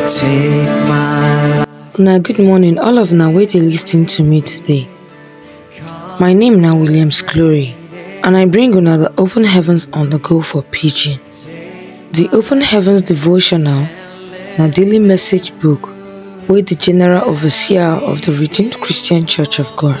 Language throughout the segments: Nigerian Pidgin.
Take my life. Una good morning, all of una wey dey lis ten to me today. My name na Williams Glory, and I bring una the Open Heavens on the Go for Pidgin. The Open Heavens devotional na daily message book wey the General Overseer of the Redeemed Christian Church of God,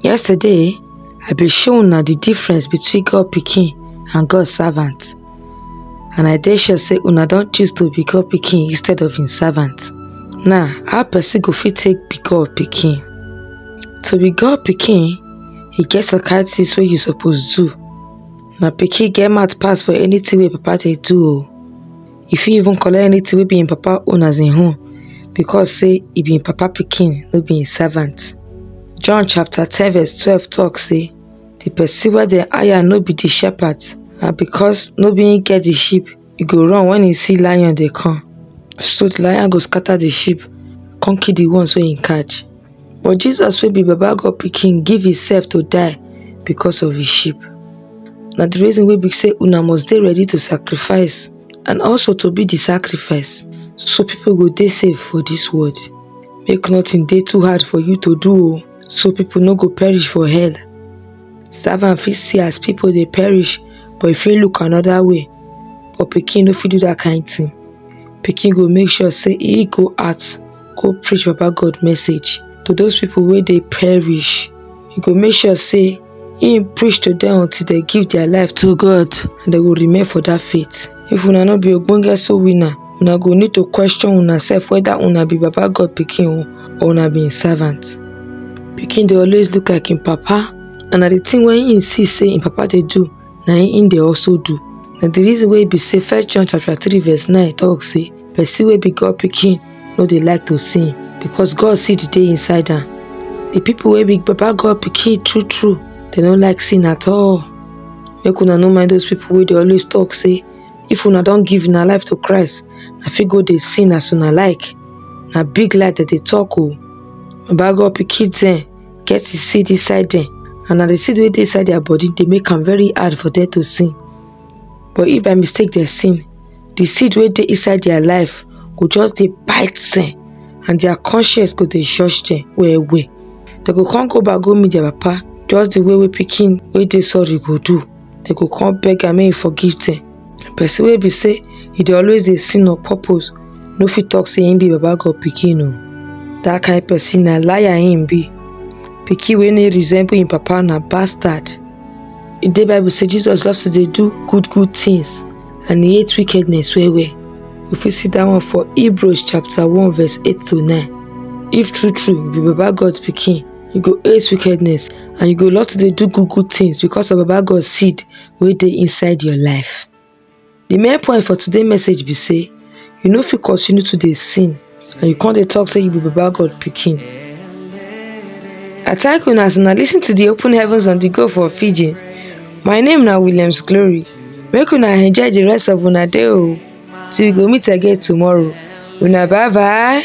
Yesterday, I be show una the difference between God pikin and God servant. And I dey sure say una don choose to be God pikin instead of im servant. Now, how person go fit take be God pikin? To be God pikin, e get some kind things wey you suppose do. Na pikin get mouth pass for anything wey papa dey do o. e fit even collect anything wey be im papa own as im own because say e be im papa pikin, no be im servant. John chapter ten verse twelve talk say the person wey dem hire no be the shepherd and because no be im get the sheep e go run when e see lion dey come so the lion go scatter the sheep come kill the ones wey im catch. But Jesus wey be baba God pikin give himself to die because of his sheep. Na the reason wey be say una must dey ready to sacrifice and also to be the sacrifice so people go dey safe for this world. Make nothing dey too hard for you to do o so people no go perish for hell. Servant fit see as people dey perish but e fit look another way but pikin no fit do that kind thing. Pikin go make sure say e go out go preach Baba God message to those people wey dey perish. He go make sure say he preach to them until they give their life to God and they will remain for that faith. If una no be ogbonge soul winner, una go need to question una self whether una be Baba God picking or una be servant. Picking they always look like in papa and na the thing when he see say in papa they do na him they also do. Na the reason wey be say first John chapter 3 verse 9 talk say Person wey be God pikin no dey like to sin because God see the day inside am. The people wey be Baba God pikin true true, they no like sin at all. Make una no mind those people wey dey always talk say if una don give una life to Christ, na fit go dey sin as una like. Na big lie dem dey talk o. Baba God pikin dem get the seed inside dem and na the seed wey dey inside their body dey make am very hard for them to sin. But if by mistake dem sin, the seed wey dey inside their life go just dey bite them and their conscience go dey judge them well well they go come go back go meet their papa just the way wey pikin wey dey sorry go do they go come beg am make he forgive them person wey be say he dey always dey sin on purpose no fit talk say him be baba god pikin o that kind person na liar him be pikin wey no resemble him papa na bastard e dey bible say jesus love to dey do good good things and he hate wickedness well well we fit see that one for hebrews chapter 1 verse 8 to 9 if true true you be baba god pikin you go hate wickedness and you go love to dey do good good things because of baba god seed wey dey inside your life the main point for today's message be say you no fit continue to dey sin and you come dey talk say you be baba god pikin i thank una as una lis ten to the open heavens on the go for fiji my name na williams glory make una enjoy the rest of una day o till we go meet again tomorrow una bye bye